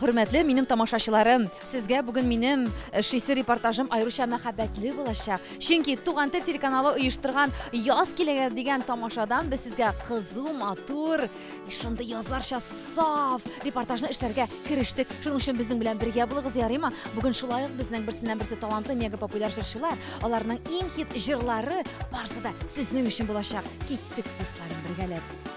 Хөрмәтле минем тамашачыларым, сезгә бүген минем эшлисе репортажым аеруча мәхәббәтле булачак. Чөнки Туган тел телеканалы оештырган Яз киләгә дигән тамашадан без сезгә кызу, матур, шундый язларча саф репортажны эшләргә керештек. Шуның өчен безнең белән бергә булыгыз, ярыймы? Бүген шулай ук безнең берсеннән-берсе талантлы мега популяр җырчылар, аларның иң хит җырлары барысы да сезнең өчен булачак. Киттек, дусларым, бергәләп.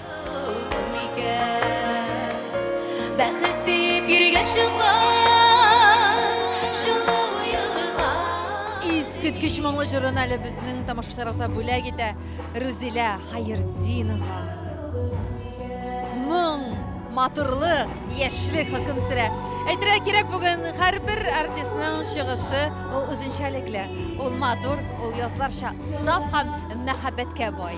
Искиткеч моңлы җырын әле безнең тамашачыларыбызга бүләк итә Рузилә Хаердинова. Моң, матурлык, яшьлек хөкем сөрә. Әйтергә кирәк, бүген һәрбер артистның чыгышы ул үзенчәлекле. Ул матур, ул язларча саф һәм мәхәббәткә бай.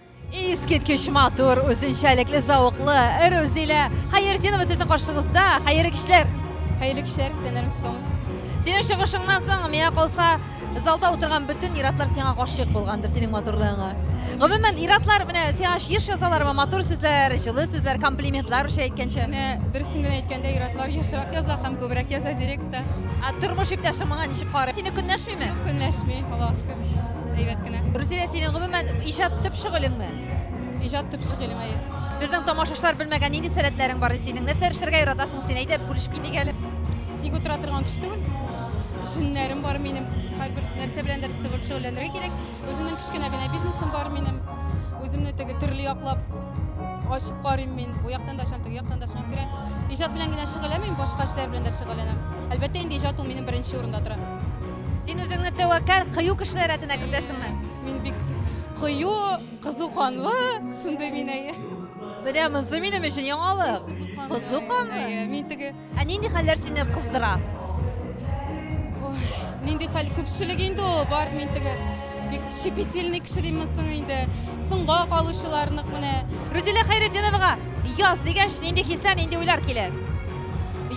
Искиткеч матур, үзенчәлекле, зауыклы Рузилә Хәердинова сезнең каршыгызда. Хәерле кичләр. Хәерле кичләр, сәнәрем соңыз. Синең чыгышыңнан соң, миңа калса, залда утырган бөтен иратлар сиңа гашыйк булгандыр, синең матурлыгыңа. Гомумән, иратлар менә сиңа еш язалармы матур сүзләр, җылы сүзләр, комплиментлар үчә әйткәнчә? Менә дөресен генә әйткәндә, иратлар ешрак яза һәм күбрәк яза директор. Ә тормыш иптәшең моңа ничек карый? Сине көнләшмиме? Көнләшми, Аллага шөкер. Әйбәт кенә. Рузилә, синең гомумән иҗат төп шөгылеңме? Иҗат төп шөгылем, әйе. Безнең тамашачылар белмәгән нинди сәләтләрең бар синең? Нәрсә эшләргә яратасың син? Әйдә, бүлешеп китик әле. Тик утыра торган кеше түгел. Җеннәрем бар минем. Һәрбер нәрсә белән дә сыгып шөгыльләнергә кирәк. Үземнең кечкенә генә бизнесым бар минем. Үземне теге төрле яклап ачып карыйм мин. Бу яктан да ачам, теге яктан да ачам күрә. Иҗат белән генә шөгыльләнмим, башка эшләр белән дә шөгыльләнәм. Әлбәттә инде иҗат ул минем беренче урында тора. Син үзеңне тәвәккәл, кыю кешеләр рәтенә кертәсеңме? Мин бик кыю, кызу канлы, шундый мин әйе. Менә монысы минем өчен яңалык. Кызу канлы. Әйе, мин теге. Ә нинди хәлләр сине кыздыра? Ой, нинди хәл күпчелек инде ул, бар мин теге. Бик щепетильный кеше димме соң инде. Соңга калучылар нык менә. Рузилә Хәйретдиновага яз дигәч, нинди хисләр, нинди уйлар килә?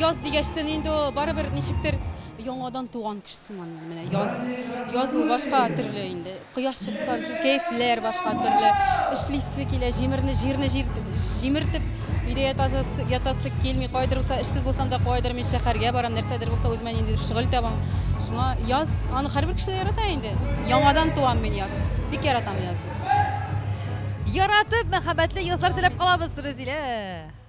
Яз дигәч тә инде ул барыбер ничектер Яңадан туган кеше сыман инде менә яз. Язу башка төрле инде. Кояш чыкса, кәефләр башка төрле. Эшлисе килә, җимерне, җирне җир, җимертеп, өйдә ятасы, ятасы килми. Кайдыр булса эшсез булсам да, кайдыр мин шәһәргә барам, нәрсәдер булса үземә ниндидер шөгыль табам. Шуңа яз, аны һәрбер кеше дә ярата инде. Яңадан туам мин яз. Бик яратам язны. Яратып, мәхәббәтле язлар теләп калабыз, Рузилә!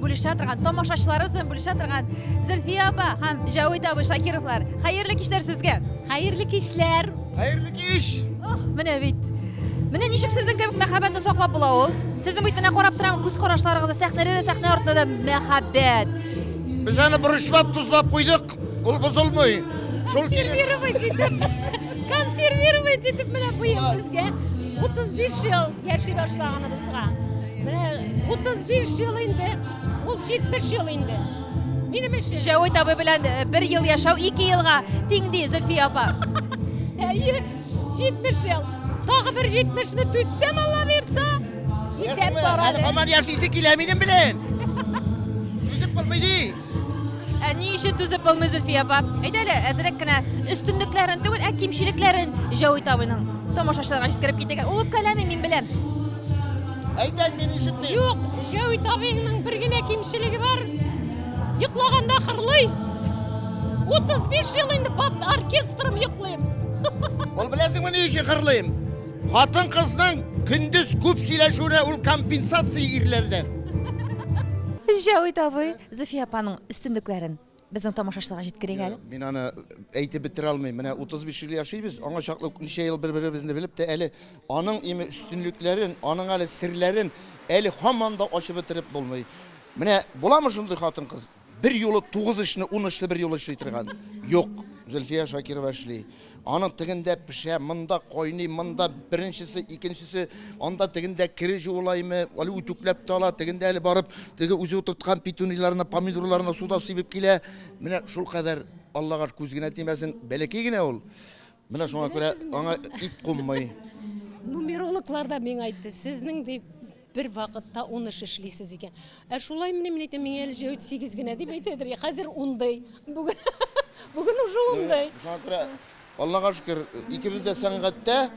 бүлешә торган тамашачыларыбыз белән бүлешә торган зөлфия апа һәм җәвит абый шакировлар хәерле кичләр сезгә хәерле кичләр хәерле кич ох менә бит менә ничек сезнең кебек мәхәббәтне саклап була ул сезнең бит менә карап торам күз карашларыгызда сәхнәдә дә сәхнә артында да мәхәббәт без аны борычлап тозлап куйдык Ул бозылмый. Шул консервировать итеп, консервировать итеп менә быел безгә 35 ел яши башлаганыбызга. Менә 35 ел инде, ул 70 ел инде. Минем өчен. Җәвит абый белән э, бер ел яшәү 2 елга тиң ди Зөлфия апа. Әйе, 70 ел. Тагы бер 70-не түзсәм, Алла бирса, исәп Әле барады. хаман яшисе килә минем белән. Үзем булмый ди. Ә ни өчен түзеп булмый Зөлфия апа? Әйдә әле, әзрәк кенә өстенлекләрен түгел, ә кимчелекләрен Җәүит абыйның тамашачыларга җиткереп китегез. Ул үпкәләми, мин беләм. Әйт әйт, мин ишетмим. Юк, Җәүит абыйның бер генә кимчелеге бар. Йоклаганда хырлый. 35 ел инде под оркестром йоклыйм. Ул беләсеңме ни өчен хырлыйм? Хатын-кызның көндез күп сөйләшүенә ул компенсация ирләрдән. Җәвит абый, Зөфия апаның өстенлекләрен безнең тамашачыларга җиткерик әле. Мин аны әйтеп бетерә алмыйм. Менә 35 ел яшибез, аңа чаклы ук ничә ел бер-беребезне белеп тә әле аның име өстенлекләрен, аның әле серләрен әле һаман да ачып бетереп булмый. Менә буламы шундый хатын-кыз? Берьюлы тугыз эшне ун эшле берьюлы эшли торган юк. Зөлфия Шакирова эшли. Аның тегендә пешә, монда кайный, монда беренчесе, икенчесе, анда тегендә кере җуылаймы, әле үтүкләп тә ала, тегендә әле барып, теге үзе утырткан петуниларны, помидорларны суда сибеп килә. Менә шулкадәр, Аллага күз генә тимәсен, бәләкәй генә ул. Менә шуңа күрә аңа ит куммый. Нумерологлар да миңа әйтте, сезнең дип бер вакытта ун эш эшлисез икән. Ә шулай мени мин әйтәм, миңа әле җәүт сигез генә дип әйтәдер. Хәзер ундый. Бүген бүген уже ундый. Шуңа күрә Аллага шөкер, икебез дә сәнгатьтә,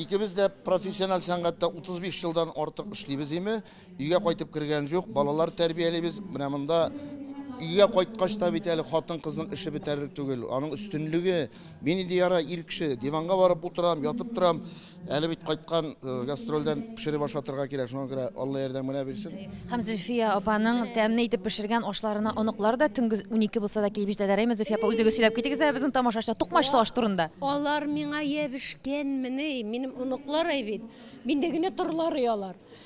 икебез дә профессиональ сәнгатьтә 35 елдан артык эшлибез име. Өйгә кайтып кергән җук, балалар тәрбиялибез. Менә монда өйгә кайткач та бит әле хатын-кызның эше бетәрлек түгел. Аның өстенлеге, мин инде яра ир кеше, диванга барып утырам, ятып торам. Әле бит кайткан э, гастрольдән пешереп ашатырга кирәк. Шуңа күрә Алла ярдәм генә бирсен. Һәм Зөлфия апаның тәмле итеп пешергән ашларына оныклар да төнге 12 булса да килеп җитәләр. Әйме, Зөлфия апа, үзегез сөйләп китегез әле безнең тамашачы тукмачлы аш турында. Алар миңа ябешкәнмени, минем оныклар әй бит. Миндә генә торулары алар.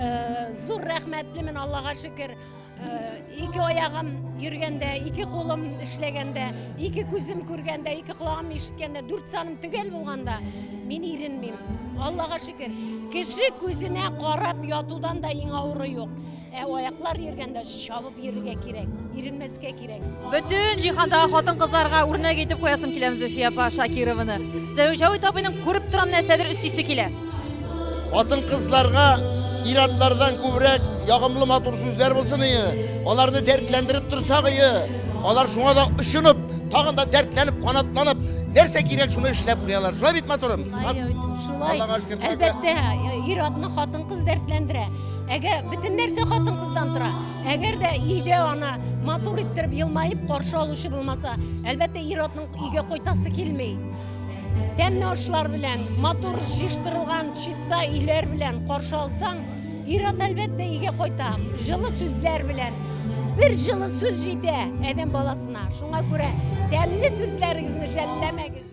Э, зур рәхмәтлемен аллага шөкер э, ике аягым йөргәндә ике кулым эшләгәндә ике күзем күргәндә ике колагым ишеткәндә дүрт саным төгәл булганда мин иренмим аллага шөкер кеше күзенә карап ятудан да иң авыры юк ә аяклар йөргәндә чабып йөрергә кирәк иренмәскә Бөтен җиһандагы хатын-кызларга үрнәк итеп куясым киләм Зөфия апа Шакированы. Зәүҗәвит абыйның күреп торам нәрсәдер өстисе килә. Хатын-кызларга иратлардан күбрәк ягымлы матур сүзләр булсын ие. Аларны дәртләндереп торсак ие. Алар шуңа да очынып, тагын да дәртләнеп, канатланып, нәрсә кирәк шуны эшләп куялар. Шулай бит матурым? Шулай. Әлбәттә, ир-атны хатын-кыз дәртләндерә. Әгәр бөтен нәрсә хатын-кыздан тора. Әгәр дә өйдә ана матур иттереп елмаеп каршы алучы булмаса, әлбәттә ир-атның өйгә кайтасы килми. Тәмле ашлар белән, матур җыштырылган чиста өйләр белән каршы алсаң, ир-ат әлбәттә өйгә кайта. Җылы сүзләр белән, бер җылы сүз җитә әдәм баласына. Шуңа күрә тәмле сүзләрегезне жәлләмәгез.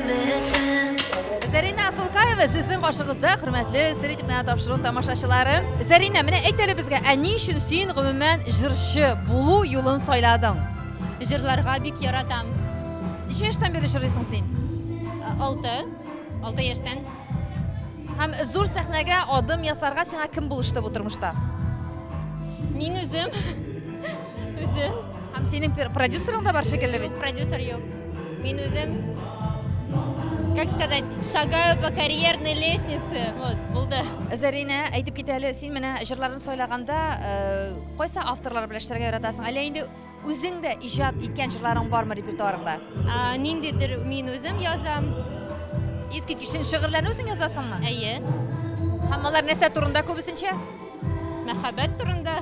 Зәринә Асылкаева сезнең каршыгызда, хөрмәтле сер итеп менә тапшыру тамашачылары. Зәринә, менә әйт әле безгә, ә ни өчен син гомумән җырчы булу юлын сайладың? Җырларга бик яратам. Ничә яшьтән бирле җырлыйсың син? Ә, Алты. Алты яшьтән. Һәм зур сәхнәгә адым ясарга сиңа кем булышты бу тормышта? Мин үзем. Үзем. Һәм синең продюсерың да бар шикелле бит. Продюсер юк. Мин үзем как сказать, шагаю по карьерной лестнице. Вот, булды. Зарина, әйтеп кит әле, син менә җырларын сайлаганда, э, кайсы авторлар белән эшләргә яратасың? Әллә инде үзең дә иҗат иткән җырларың бармы репертуарыңда? А, ниндидер мин үзем язам. Искиткеч шигырьләрне үзең язасыңмы? Әйе. Һәм алар нәрсә турында күбесенчә? Мәхәббәт турында.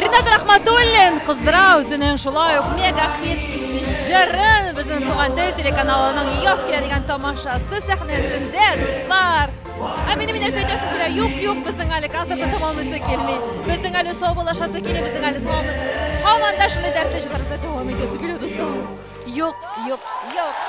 Ренат Рахматуллин кыздыра үзенең шулай ук мега хит җырын безнең туган тел телеканалының яз килә дигән тамашасы сәхнәсендә дуслар. Ә минем инеш әйтәсе килә, юк, юк, безнең әле концертны тәмамлыйсы килми. Безнең әле саубуллашасы килми, безнең әле тәмамлыйсы. Һаман да шундый дәртле җырларыбызны дәвам итәсе килә дуслар. Юк, юк, юк.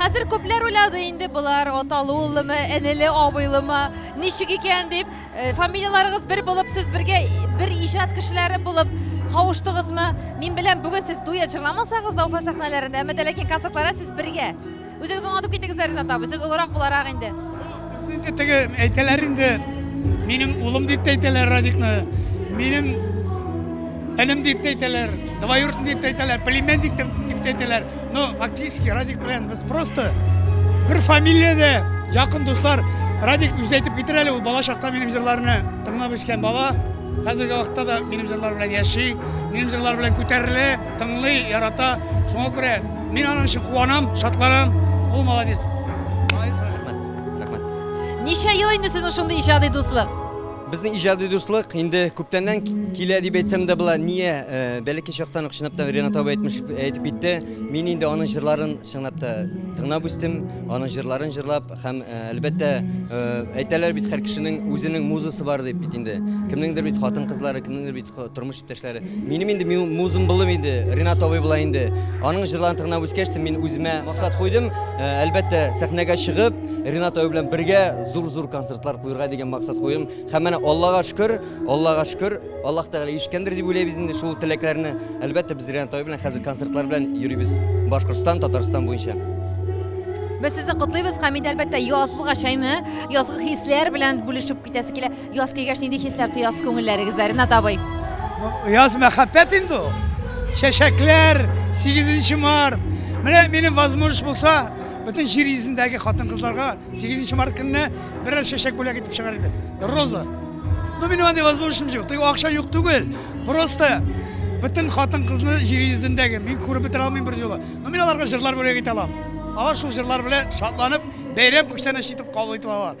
Хәзер күпләр уйлады инде болар аталы уллымы, энеле абыйлымы, ничек икән дип. Э, фамилияларыгыз бер булып, сез бергә бер иҗат кешеләре булып кавыштыгызмы? Мин беләм, бүген сез дуэт җырламасагыз да Уфа сәхнәләрендә, әмма дә ләкин концертларда сез бергә. Үзегез аңлатып китегез, Ринат абый, сез олырак буларак инде. Инде теге әйтәләр инде, минем улым дип әйтәләр Радикны, минем энем дип әйтәләр, двоюродный дип әйтәләр, племянник дип әйтәләр. Ну, фактически Радик белән без просто бер фамилиядә якын дуслар. Радик үзе әйтеп китер әле, ул бала чакта минем җырларны тыңлап үскән бала. Хәзерге вакытта да минем җырлар белән яши, минем җырлар белән күтәрелә, тыңлый, ярата. Шуңа күрә мин аның өчен куанам, шатланам. Ул молодец. Молодец, Радик. Рәхмәт. Ничә ел инде сезнең шундый иҗади дуслык? Безнең иҗади дуслык инде күптәннән килә дип әйтсәм дә була. Ние, э, бәләкәй чактан ук чынлап та Ренат абый әйтмеш әйтеп китте. Мин инде аның җырларын чынлап та тыңлап үстем, аның җырларын җырлап һәм э, әлбәттә э, әйтәләр бит һәр кешенең үзенең музасы бар дип бит инде. Кемнеңдер бит хатын-кызлары, кемнеңдер бит тормыш Иптәшләре, минем инде музым булып инде Ренат абый була инде. Аның җырларын тыңлап үскәч, мин үземә максат куйдым. Э, әлбәттә, сәхнәгә чыгып, Ренат абый белән бергә зур-зур концертлар куярга дигән максат куйдым. Һәм менә Аллага шөкер, Аллага шөкер, Аллаһ Тәгалә ишкәндер дип уйлыйбыз инде шул теләкләрне. Әлбәттә, без Ренат абый белән хәзер концертлар белән йөрибез. Башкортстан, Татарстан буенча. Без сезне котлыйбыз, Хәмид, әлбәттә, яз булгач, әйме, язгы хисләр белән бүлешеп китәсе килә. Яз килгәч нинди хисләр тоясыз күңелләрегездә, Ренат абый? Яз мәхәббәт инде ул. Чәчәкләр, 8 март. Менә минем возможность булса, бөтен җир йөзендәге хатын-кызларга 8 март көнне берәр чәчәк бүләк итеп чыгар идем. Роза. Ну, минем андый возможностьым юк. Тик акча юк түгел. Просто бөтен хатын-кызны җир йөзендәге мин күреп бетерә алмыйм бер юлы. Ну, мин аларга җырлар бүләк итә алам. Алар шул җырлар белән шатланып, бәйрәм күчтәнәче итеп кабул итеп алалар.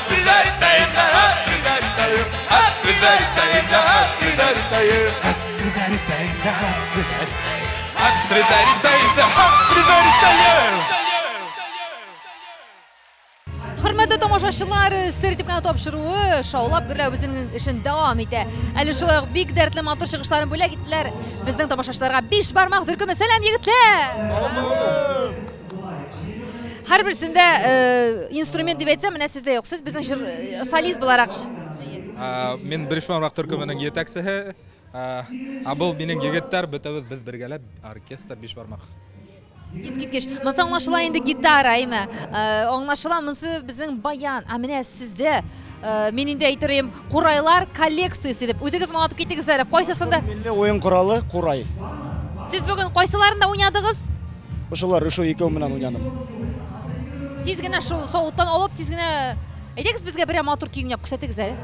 Хөрмәтле тамашачылар, сер дип кенә тапшыруы шаулап гөрләү безнең эшен дәвам итә. Әле шулай ук бик дәртле матур чыгышларын бүләк иттеләр. Безнең тамашачыларга биш бармак төркеме сәлам егетләр! Һәрберсендә э, инструмент дип әйтсәм, менә сездә юк. Сез безнең җыр э, солист буларак. Ә, Мин Брешман рак төркеменең етәкчесе. Ә, Ә бу минем егетләр, бөтәбез без бергәләп оркестр биш бармак. Искиткеч. Монсы аңлашыла инде гитара, әйме. Э, Аңлашыла, монсы безнең баян. Ә менә сездә Э, мин инде әйтерем курайлар коллекциясе дип үзегез аңлатып китегез әле кайсысында милли уен коралы курай сез бүген кайсыларында уйнадыгыз ошолар ошо екеуі менен уйнадым тиз генә шул сауыттан алып тиз генә әйдәгез безгә берәр матур көй уйнап күрсәтегез әле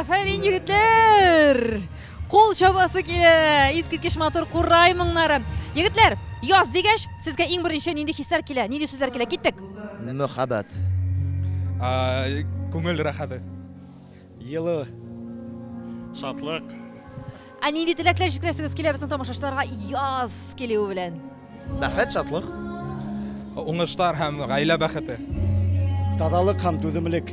Афәрин, егетләр! Кул чабасы килә! Искиткеч матур курай моңнары. Егетләр, яз дигәч, сезгә иң беренче нинди хисләр килә? Нинди сүзләр килә? Киттек! Мөхәббәт. Күңел рәхәте. Елы. Шатлык. Ә нинди теләкләр җиткерәсегез килә безнең тамашачыларга яз килүе белән? Бәхет, шатлык. Уңышлар һәм гаилә бәхете. Тазалык һәм түземлек.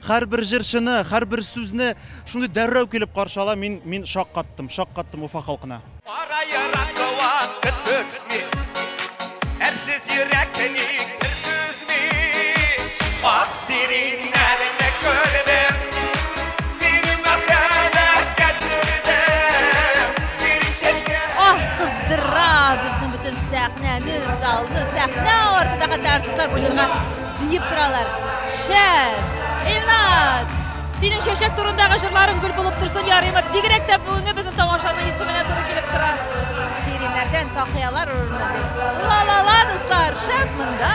Һәрбер җырчыны, һәрбер сүзне шундый дәррәү килеп каршы ала, мин, мин шаккаттым, шаккаттым Уфа халкына. Кара еракка вакыт төртми, әрсез йөрәкне ник бер түзми? Ак сириннәрне күрдем, сине мәхәббәткә төрдем, сирин чәчкә. Аһ, кыздыра безнең бөтен сәхнәне, залны, сәхнә артындагы хәтта артистлар бу җырга. Диеп торалар. Шәп! Илнат! Синең чәчәк турындагы жырларың гөл булып торсын, ярыймы? Бигрәк тә бүгенге безнең тамашаның исеменә туры килеп тора. Сиренәрдән тақыялар урынына дип. Ла-ла-ла, дуслар, шәп монда!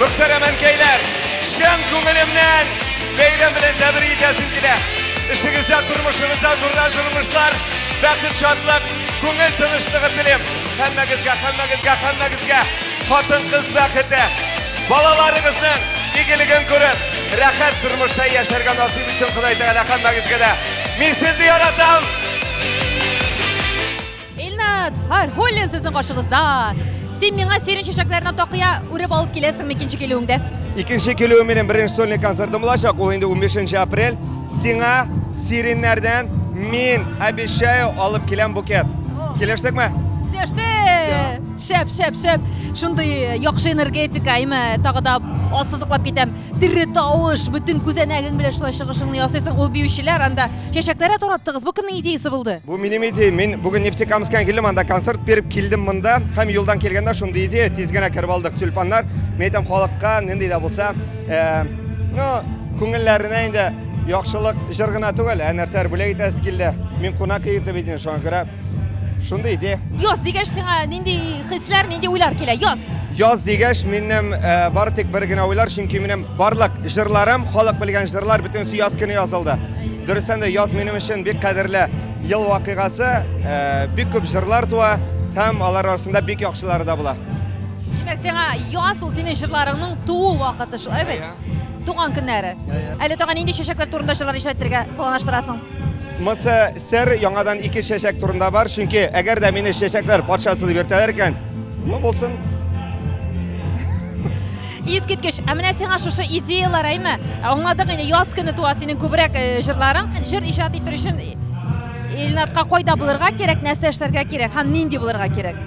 Мөхтәрәм әнкәйләр, чын күңелемнән бәйрәм белән тәбрик итәсем килә. Эшегездә, тормышыгызда зурдан зур уңышлар, бәхет, шатлык, күңел тынычлыгы телим. Һәммәгезгә, һәммәгезгә, һәммәгезгә хатын-кыз бәхете, балаларыгызның игелеген күреп, рәхәт тормышта яшәргә насыйп итсен Ходай Тәгалә һәммәгезгә дә. Мин сезне яратам! Илнат Фархуллин сезнең каршыгызда. Син миңа сирень чәчәкләренә такыя үреп алып киләсеңме икенче килүеңдә? Икенче килүем минем беренче сольный концертым булачак, ул инде 15 апрель. Сиңа сиреньнәрдән мин обещаю алып киләм букет. Килештекме? Килеште! Шәп, шәп, шәп. Шундый э, яхшы энергетика, әйме, тагы да ассызыклап китәм. Тере тавыш, бөтен күзәнәгең белән шулай чыгышыңны ясыйсың. Ул биючеләр анда Чәчәкләре тараттыгыз. Бу кемнең идеясы булды? Бу минем идеям. Мин бүген Нефтекамскан килдем, анда концерт биреп килдем монда. Һәм юлдан килгәндә шундый идея, тиз генә кереп алдык. Тюльпаннар, мин әйтәм, халыкка нинди дә булса, э, ну, күңелләренә инде яхшылык җыр гына түгел, ә нәрсәләр бүләк итәсе килде. Мин кунак итеп идем, шуңа күрә Шундый идея. Яз дигәч сиңа нинди хисләр, нинди уйлар килә? Яз. Яз дигәч минем э, бары тик бер генә уйлар, чөнки минем барлык җырларым, халык белгән җырлар бөтенесе яз көне язылды. Дөрестән дә яз минем өчен бик кадерле ел вакыйгасы, э, бик күп җырлар туа һәм алар арасында бик яхшылары да була. Димәк, сиңа яз ул синең җырларыңның туу вакыты шул, әйбәт. Туган көннәре. Әле тагын нинди чәчәкләр турында җырлар иҗат итәргә планлаштырасың? Мысы Сер яңадан ике чәчәк турында бар, чөнки әгәр дә мине чәчәкләр патшасы дип йөртәләр икән, ну булсын. Искиткеч, ә менә сиңа шушы идеялар, әйме? Аңладык инде, яз көне туа синең күбрәк э, җырларың. Җыр иҗат итер өчен Илнатка кайда булырга кирәк, нәрсә эшләргә кирәк һәм нинди булырга кирәк?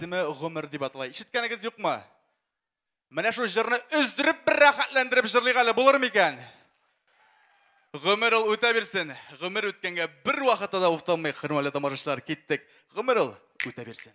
исеме гомер дип атала. Ишеткәнегез юкмы? Менә шул җырны өздереп бер рәхәтләндереп җырлыйк әле, булыр микән? Гомер ул үтә бирсен. Гомер үткәнгә бер вакытта да уфтанмыйк, хөрмәтле тамашачылар, киттек. Гомер ул үтә бирсен.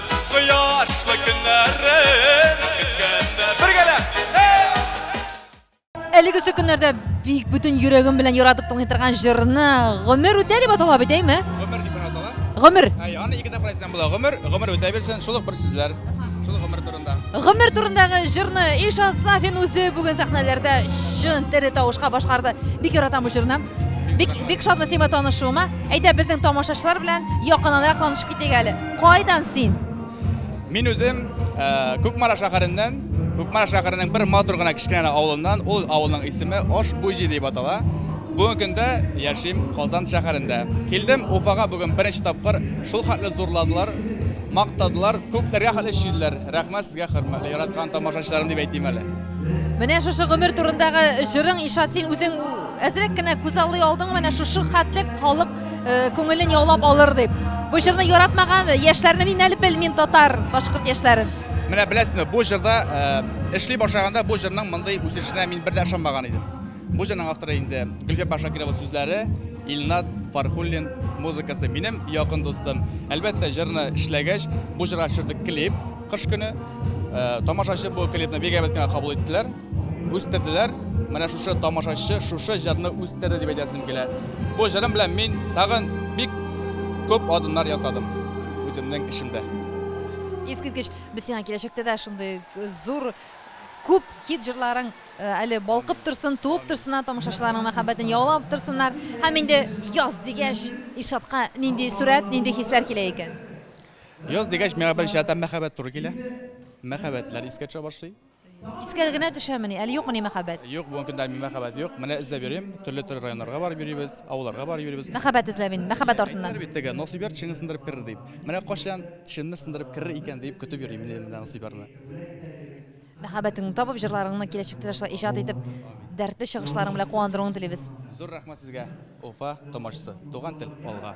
Кояшлы көннәрен көткәндә Бергәләп! Әлеге сөкеннәрдә бик бүтін йөрәгем белән яратып тыңлый торган җырны Гомер үтә дип атала бит, әйме? Гомер дип атала. Гомер. Әй, аны ике тапкыр әйтсәң була. Гомер, гомер үтә бирсен, шул ук бер сүзләр. Шул гомер турында. Гомер турындагы җырны Ишан Сафин үзе бүген сәхнәләрдә чын тере тавышка башкарды. Бик яратам бу җырны. Бик бик шатмы сиңа танышуыма. Әйдә безнең тамашачылар белән якынанрак танышып китик әле. Кайдан син? Мин үзем э, Күкмара шәһәреннән, Күкмара шәһәренең бер матур гына кечкенә авылыннан, ул авылның исеме Ашбуҗи дип атала. Бүгенге көндә яшим Казан шәһәрендә. Килдем Уфага бүген беренче тапкыр. Шул хәтле зурладылар, мактадылар, күпләргә хәтле чөйделәр. Рәхмәт сезгә, хөрмәтле яраткан тамашачыларым дип әйтим әле. Менә шушы гомер турындагы җырың Ишат, син үзең әзрәк кенә күз алдый алдың, менә шушы хәтле халык Э, күңелен яулап алыр дип. Бу җырны яратмаган яшьләрне мин әле белмим татар, башкорт яшьләрен. Менә беләсезме, бу җырда э, эшли башлаганда бу җырның мондый үсешенә мин бер дә ышанмаган идем. Бу җырның авторы инде Гөлфия Башакирова сүзләре, Илнат Фархуллин музыкасы минем якын дустым. Әлбәттә, җырны эшләгәч, бу җырга төшердек клип кыш көне. Э, тамашачы бу клипны бик әйбәт кенә кабул иттеләр. Үстерделәр, менә шушы тамашачы шушы җырны үстерде дип әйтәсем килә. Бу җырым белән мин тагын бик күп адымнар ясадым үземнең эшемдә. Искиткеч, без сиңа киләчәктә дә шундый зур күп хит җырларың э, әле балкып торсын, туып торсыннар, тамашачыларның мәхәббәтен яулап торсыннар. Һәм инде яз дигәч, Ишатка нинди сурәт, нинди хисләр килә икән? Яз дигәч, миңа беренче рәттән мәхәббәт туры килә. Мәхәббәтләр искә төшә башлый. Искә генә төшәмени, әле юкмыни мәхәббәт? Юк, бүгенге көндә мәхәббәт юк. Менә эзләп йөрим, төрле-төрле районнарга барып йөрибез, авылларга барып йөрибез. Мәхәббәт эзләп инде, мәхәббәт артыннан. Әйттеләр бит теге, насыйбәр тешеңне сындырып керер дип. Менә кайчан тешемне сындырып керер икән дип көтеп йөрим инде менә насыйбәрне. Мәхәббәтеңне табып, җырларыңны киләчәктә дә шулай иҗат итеп, дәртле чыгышларың белән куандыруыңны телибез. Зур рәхмәт сезгә, Уфа тамашасы. Туган тел, алга!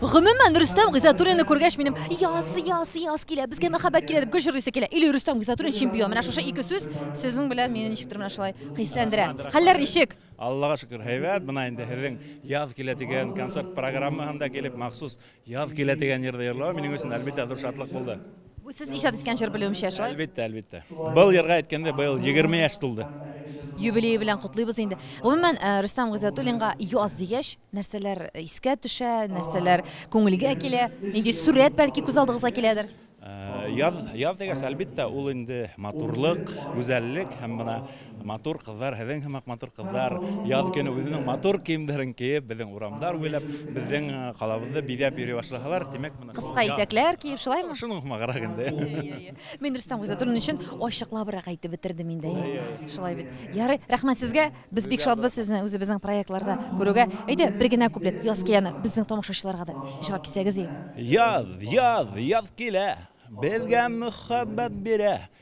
Гомумән, Рөстәм Гыйззатуллинны күргәч, минем яз, яз, яз килә, безгә мәхәббәт килә дип гел җырлыйсы килә. Или Рөстәм Гыйззатуллин чемпион. Менә шушы ике сүз сезнең белән мине ничектер менә шулай хисләндерә. Хәлләр ничек? Аллага шөкер, һәйбәт. Менә инде сезнең Яз килә дигән концерт программаһында килеп, махсус Яз килә дигән җырны җырлавым минем өчен, әлбиттә, зур шатлык булды. Бу сез иҗат иткән җыр белүемчә, шулай? Әлбәттә, әлбәттә. Был ярга әйткәндә быел 20 яшь тулды. Юбилее белән котлыйбыз инде. Гомумән, э, Рөстәм Гыйззәтуллинга яз дигәч, нәрсәләр э, искә төшә, нәрсәләр күңелгә килә? Нинди сурәт бәлки күз алдыгызга киләдер? Э, яз, яз дигәч, әлбәттә, ул инде матурлык, гүзәллек һәм менә Матур кызлар, һеҙең һымак матур кызлар, яз көне үзенең матур киемдәрен киеп, безнең урамдар буйлап, безнең э, калабызны бизәп йөри башласалар, димәк, моны Кыска итәкләр киеп, шулаймы? Шуның һымаграк инде. Мин Рөстәм Гыйззәтуллин өчен ачыклабрак әйтеп бетердем инде. инде. Шулай бит. Ярый, рәхмәт сезгә. Без бик шатбыз сезне үзебезнең проектларда күрүгә. Әйдә, бер генә куплет яз кияне безнең тамашачыларга да җырлап китсәгез ие. Яз, яз, яз килә, безгә мөхәббәт бирә.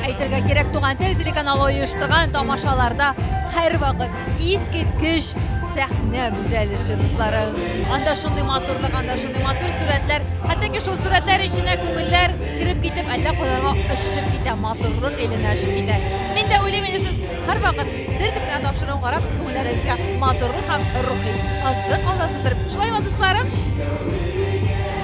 Әйтергә кирәк, Туган тел телеканалы оештырган тамашаларда һәрвакыт искиткеч сәхнә бизәлеше дуслары. Анда шундый матурлык, анда шундый матур сурәтләр. Хәтта ки шул сурәтләр эченә күңелләр кереп китеп, әллә кайларга очып китә, матурлык эленә очып китә. Мин дә уйлыйм, инде сез һәрвакыт сер төпенә тапшыру карап, күңелләрегезгә матурлык һәм рухи азык аласыздыр. Шулаймы, дусларым?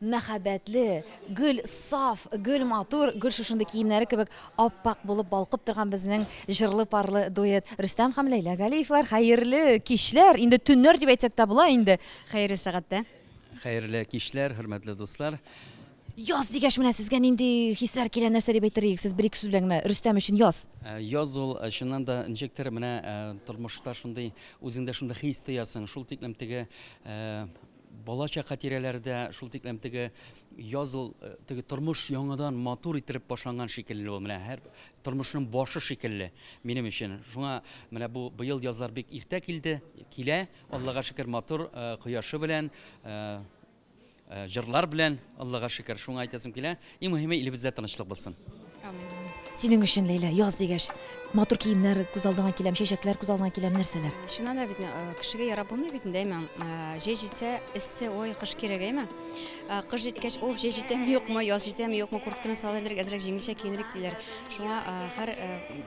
Мәхәббәтле, гел саф, гел матур, гел шушындый киемнәре кебек ап-ак булып балкып торган безнең җырлы-парлы дуэт Рөстәм һәм Ләйлә Галиевлар, хәерле кичләр! Инде төннәр дип әйтсәк тә була инде, хәерле сәгатьтә. Хәерле кичләр, хөрмәтле дуслар! Яз дигәч, менә сезгә нинди хисләр килә, нәрсә дип әйтер идек, сез бер-ике сүз белән генә Рөстәм өчен яз? Яз ул, чыннан да, ничектер менә тормышта шундый, үзеңдә шундый хис тоясың, шул тиклем теге, Балачак хатирәләре дә шул тиклем теге яз ул э, теге тормыш яңадан матур ителеп башланган шикелле ул менә һәр тормышның башы шикелле минем өчен. Шуңа менә бу быел язлар бик иртә килде, килә. Аллага шөкер матур э, кояшы белән э, э, җырлар белән Аллага шөкер. Шуңа әйтәсем килә, Иң мөһиме илебездә тынычлык булсын. Синең өчен, Ләйлә, яз дигәч, матур киемнәр күз алдыңа киләм, чәчәкләр күз алдыңа киләм, нәрсәләр? Чыннан да бит э, кешегә ярап булмый бит инде әйме. Э, җәй җитсә, эссе, ой, кыш кирәк әйме. Э, кыш җиткәч, уф, җәй җитәме юкмы, яз җитәме юкмы, куртканы салып элдерик, әзрәк җиңелчә киенерик диләр. Шуңа һәр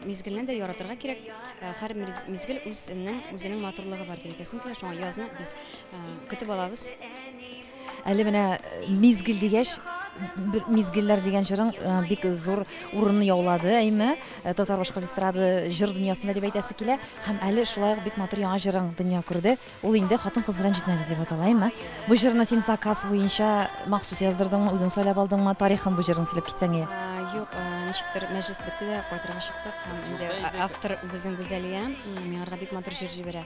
мизгелне дә яратырга кирәк. Һәр мизгел үзенең үзенең матурлыгы бар дип әйтәсем килә. Шуңа язны без көтеп алабыз. Әле менә мизгел дигәч, бер мизгелләр дигән җырың бик зур урынны яулады, әйме, татар башкорт эстрады җыр дөньясында дип әйтәсе килә. Һәм әле шулай ук бик матур яңа җырың дөнья күрде. Ул инде хатын-кыз белән җитмәгез дип атала, әйме. Бу җырны син заказ буенча махсус яздырдыңмы, үзең сайлап алдыңмы? Тарихын бу җырның сөйләп китсәң иде. Юк, ничектер мәҗлес бетте дә кайтырга чыктык. Һәм инде автор безнең Гүзәлия миңарга бик матур җыр җибәрә.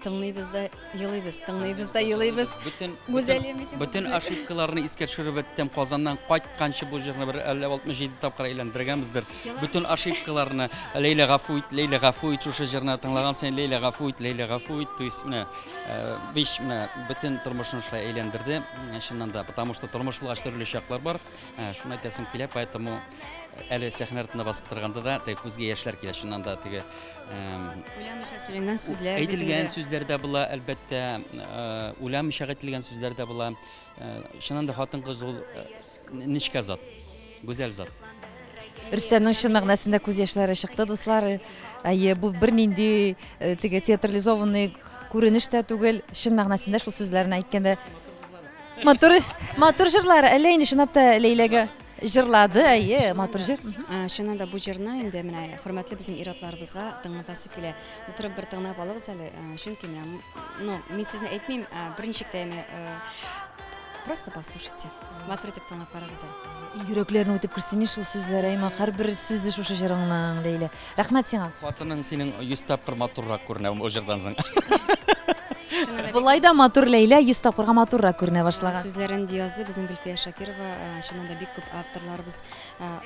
Тыңлыйбыз да Елыйбыз, тыңлыйбыз да елыйбыз. Бөтен Гүзәлия Митинова. Бөтен ошибкаларны искә төшереп беттем. Казаннан кайтканчы бу җырны бер 57 тапкыр әйләндергәнбездер. Бөтен ошибкаларны Ләйлә гафу ит, Ләйлә гафу ит шушы җырны тыңлаган саен Ләйлә гафу ит, Ләйлә гафу ит. То есть менә э, биш менә бөтен тормышны шулай әйләндерде. Э, чыннан да, потому что тормыш булгач төрле чаклар бар. Э, шуны әйтәсем килә, поэтому әле сәхнә артында басып торганда да теге күзгә яшьләр килә чыннан да теге Уйламыйча сөйләнгән сүзләр. Әйтелгән сүзләр дә була, әлбәттә, уйламыйча әйтелгән сүзләр дә була. Чыннан да хатын-кыз ул нечкә зат, гүзәл зат. Рөстәмнең чын мәгънәсендә күз яшьләре чыкты, дуслар. Әйе, бу бернинди э, теге театрализованный күренеш тә түгел, чын мәгънәсендә шул сүзләрне әйткәндә. Матур, матур җырлар, әллә инде чынлап та Ләйләгә Җырлады, әйе, матур җыр. Чыннан да бу җырны инде менә хөрмәтле безнең ир-атларыбызга тыңлатасы килә. Утырып бер тыңлап алыгыз әле, чөнки менә, ну, мин сезне әйтмим, берничек тә яме, просто послушайте. Матур итеп тыңлап карагыз әле. Йөрәкләрне үтеп керсен шул сүзләр, әйма, һәрбер сүзе шушы җырыңның, Ләйлә. Рәхмәт сиңа. Хатының синең 100 тапкыр матуррак күренә бу җырдан соң. Болай да матур Ләйлә 100 тапкырга матуррак күренә башлаган. Сүзләрен язды безнең Гөлфия Шакирова, чыннан да бик күп авторларыбыз,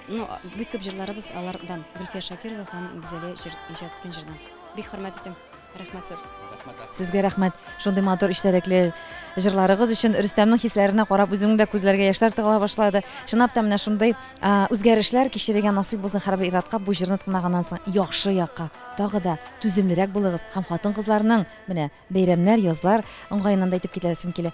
ну бик күп җырларыбыз алардан, Гөлфия Шакирова һәм Гүзәлия җыр иҗат иткән җырдан. Бик хөрмәт итәм. Рәхмәт зур. Сезгә рәхмәт. Шундый матур эчтәлекле җырларыгыз өчен Рөстәмнең хисләренә карап үземнең дә күзләргә яшьләр тыгыла башлады. Чынлап та менә шундый үзгәрешләр кичерергә насыйп булсын һәрбер иратка бу җырны тыңлаганнан соң яхшы якка тагы да түземлерәк булыгыз һәм хатын-кызларның менә бәйрәмнәр, язлар уңгаеннан да әйтеп китәсем килә.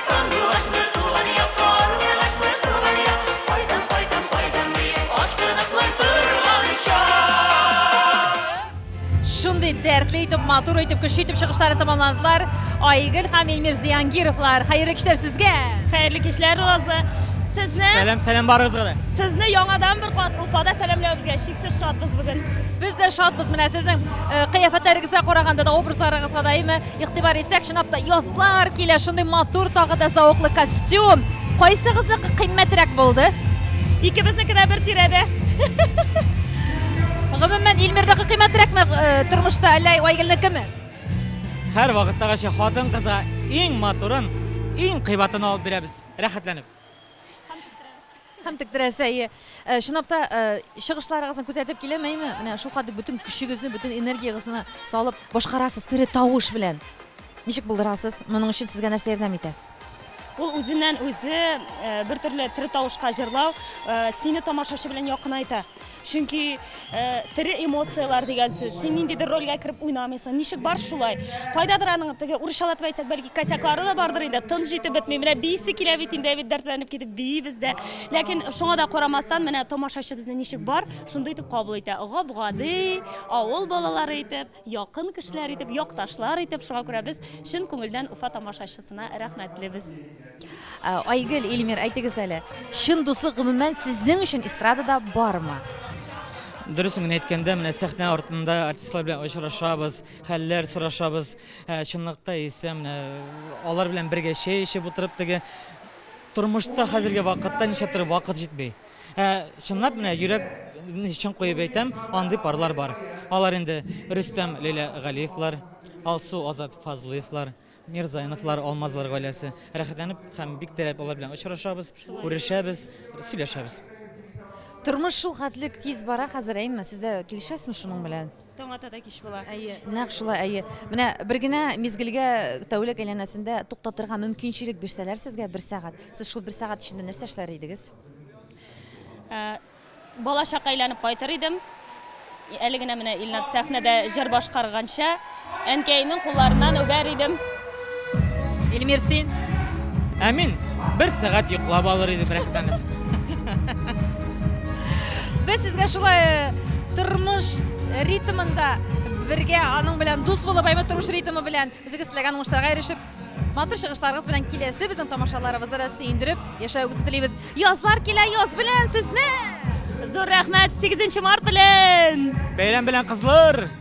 Шундый дәртле итеп, матур итеп, көчле итеп чыгышлары тәмамландылар. Айгөл һәм Эльмир Зиянгировлар, хәерле кичләр сезгә! Хәерле кичләр, Роза! Сезне... Сәлам, сәлам барыгызга да! Сезне яңадан бер кат Уфада сәламләүебезгә шиксез шатбыз бүген. Без дә шатбыз менә сезнең э, кыяфәтләрегезгә караганда да, образларыгызга да, әйме? Игътибар итсәк, чынлап та язлар килә, шундый матур тагы да зауыклы костюм. Кайсыгызныкы кыйммәтрәк булды? Икебезнеке дә бер тирәдә. Гомумән, Илмирдагы кыйммәтрәкме э, тормышта, әллә Айгөлнекеме? Һәр вакыттагыча хатын кызга иң матурын, иң кыйбатын алып бирәбез. Рәхәтләнеп. Һәм тектерәсе, әйе. Э, чынлап та, э, чыгышларыгызны күзәтеп киләм, әйме? Менә шулкадәр бөтен көчегезне, бөтен энергиягезне салып башкарасыз тере тавыш белән. Ничек булдырасыз? Моның өчен сезгә нәрсә ярдәм итә? Ул үзеннән үзе э, бер төрле тере тавышка җырлау сине тамашачы белән якынайта. Чөнки тере эмоцияләр дигән сүз. Син ниндидер рольгә кереп уйнамыйсың. Ничек бар шулай? Кайдадыр аның теге урысчалатып әйтсәк, бәлки косяклары да бардыр инде. Тын җитеп бетми. Менә бийсе килә бит инде, бит дәртләнеп китеп биибез дә. Ләкин шуңа да карамастан, менә тамашачы безне ничек бар, шундый итеп кабул итә. Гап-гади, авыл балалары итеп. Якын кешеләр итеп, якташлар итеп, шуңа күрә без чын күңелдән Уфа тамашачысына рәхмәтлебез. Айгөл, Ильмир, әйтегез әле, чын дуслык гомумән сезнең өчен эстрадада бармы? Дөресен генә әйткәндә, менә сәхнә артында артистлар белән очрашабыз, хәлләр сорашабыз. Ә чынлыкта исә менә алар белән бергә чәй эчеп утырып теге тормышта хәзерге вакытта нишләптер вакыт җитми. Ә чынлап менә йөрәк чын куеп әйтәм, андый парлар бар. Алар инде Рөстәм Лилә Галиевлар, Алсу Азат Фазлыевлар, Мирзайновлар, Алмазлар гаиләсе. Рәхәтләнеп һәм бик теләп алар белән очрашабыз, күрешәбез, сөйләшәбез. Тормыш шул хәтлек тиз бара хәзер, әйме? Сез дә килешәсезме шуның белән? Таң ата да кич була. Әйе, нәкъ шулай, әйе. Менә бер генә мизгелгә тәүлек әйләнәсендә туктатырга мөмкинчелек бирсәләр сезгә бер сәгать. Сез шул бер сәгать эчендә нәрсә эшләр идегез? Ә, бала чакка әйләнеп кайтыр идем. Әле генә менә Илнат сәхнәдә җыр башкарганча, әнкәемнең кулларыннан үбәр идем. Эльмир, син? Ә мин бер сәгать йоклап алыр идем рәхәтләнеп. Без сезгә шулай э, тормыш ритмында бергә аның белән дус булып, әйме тормыш ритмы белән үзегез теләгән уңышларга ирешеп, матур чыгышларыгыз белән киләсе безнең тамашаларыбызны да сөендереп яшәвегезне телибез. Язлар килә, яз белән сезне! Зур рәхмәт 8 март белән! Бәйрәм белән кызлар!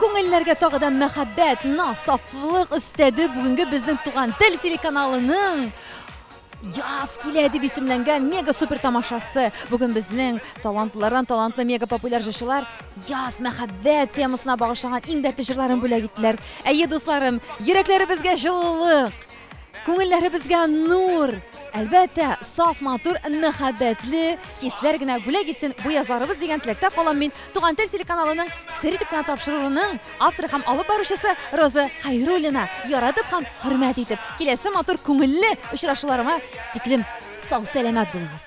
Күңелләргә тагы да мәхәббәт, наз, сафлык өстәде бүгенге безнең туган тел телеканалының Яз килә дип исемләнгән мега супер тамашасы. Бүген безнең талантлылардан талантлы мега популяр җырчылар яз мәхәббәт темасына багышланган иң дәртле җырларын бүләк иттеләр. Әйе, дусларым, йөрәкләребезгә җылылык, Күңелләребезгә нур! Әлбәттә, саф матур, мәхәббәтле хисләр генә бүләк итсен бу язарыбыз дигән теләктә калам мин. Туган тел телеканалының сер итеп кенә тапшыруының авторы һәм алып баручысы Роза Хәйруллина яратып һәм хөрмәт итеп, киләсе матур күңелле очрашуларыма тиклем сау-сәламәт булыгыз.